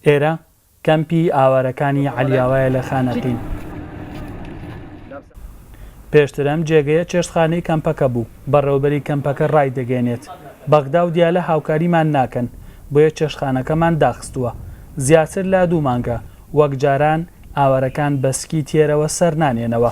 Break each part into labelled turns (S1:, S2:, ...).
S1: ئێرە کەمپی ئاوارەکانی عەلیاوایە لە خانەقین. پێشتر ئەم جێگەیە چێشتخانەی کەمپەکە بوو. بەڕێوەبەری کەمپەکە ڕایدەگەیەنێت، بەغدا و دیالە هاوکاریمان ناکەن، بۆیە چێشتخانەکەمان داخستووە. زیاتر لە دوو مانگە وەک جاران ئاوارەکان بە سکی تێرەوە سەرنانێنەوە.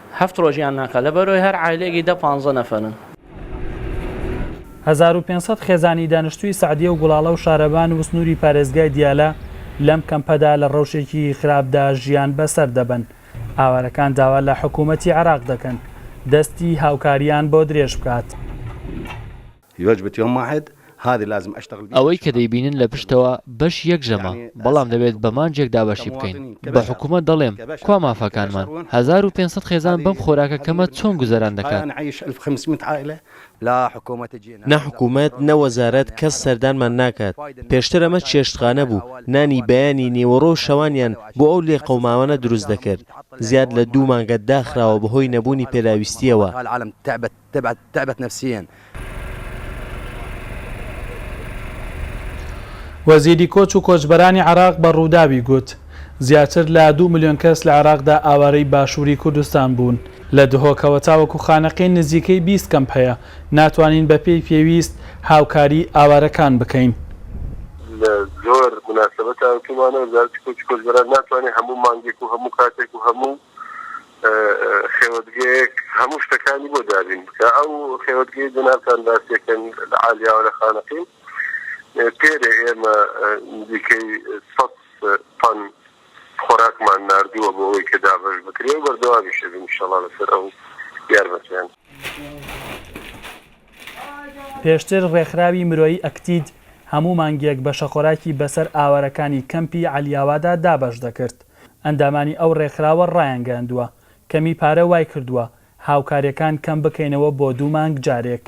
S2: هەفت ڕۆژیان ناکا لە بەرۆی هەر عایلەیەکی دە پانزە نەفەرن. هەزار
S1: و پێنج سەد خێزانی دانشتووی سەعدیە و گوڵاڵە و شارەبان و سنووری پارێزگای دیالە لەم کەمپەدا لە ڕەوشێکی خراپدا ژیان بەسەر دەبەن. ئاوارەکان داوا لە حکوومەتی عێراق دەکەن دەستی هاوکارییان بۆ درێژ بکات.
S3: ئەوەی کە دەیبینن لە پشتەوە بەش یەک ژەمە، بەڵام دەبێت بە مانجێک دابەشی بکەین. بە حکومەت دەڵێم، کوا مافەکانمان؟ هەزار و پێنج سەد خێزان بەم خۆراکە کەمە چۆن گوزەران دەکات؟
S4: نە حکومەت، نە وەزارەت، کەس سەردانمان ناکات. پێشتر ئەمە چێشتخانە بوو، نانی بەیانی، نیوەڕۆ و شەوانیان بۆ ئەو لێقەوماوانە دروست دەکرد. زیاد لە دوو مانگە داخراوە بەهۆی نەبوونی پێداویستییەوە. تەبعەت تەعبەت نەفسیەن.
S1: وەزیری کۆچ و کۆچبەرانی عێراق بە رووداوی گوت، زیاتر لە دوو ملیۆن کەس لە عێراقدا ئاوارەی باشووری کوردستان بوون، لە دهۆکەوە تاوەکو خانەقین نزیکەی بیست کەمپ هەیە، ناتوانین بەپێی پێویست هاوکاریی ئاوارەکان بکەین. لە
S5: زۆر موناسەبەتا وتوومانە، وەزارەتی کۆچ و کۆچبەران ناتوانێت هەموو مانگێک و هەموو کاتێک و هەموو. خێوەتگەیەک هەموو شتەکانی بۆ دابین بکە ئەو خێوەتگەی جەنابتان باسیەکەن لە عالیاوە لە خانەقین پێرێ ئێمە دیکەی سەد تەن خۆراکمان نردووە بۆ ئەوەی کە دابەش بکرێ و بەردەوامیشە بین شەڵا لەسەر ئەو یارمەتیان.
S1: پێشتر ڕێکخراوی مرۆیی ئەکتید هەموو مانگێک بەشەخۆراکی بەسەر ئاوارەکانی کەمپی عەلیاوادا دابەش دەکرد. ئەندامانی ئەو ڕێکخراوە ڕایانگەیاندووە، کەمی پارە وایکردووە هاوکارییەکان کەم بکەینەوە بۆ دوو مانگ جارێک.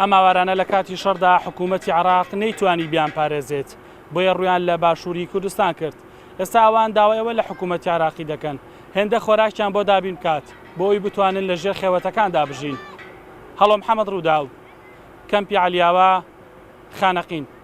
S1: ئەم ئاوارانە لە کاتی شەڕدا حکوومەتی عراق نەیتوانی بیان پارێزێت بۆیە ڕویان لە باشووری کوردستان کرد ئێستا ئەوان داوایەوە لە حکوومەتی عراقی دەکەن هێندە خۆراکیان بۆ دابین بکات بۆ ئەوی بتوانن لە ژێر خێوەتەکاندا بژین هەڵۆ محەممەد ڕووداو کەمپی علیاوە خانەقین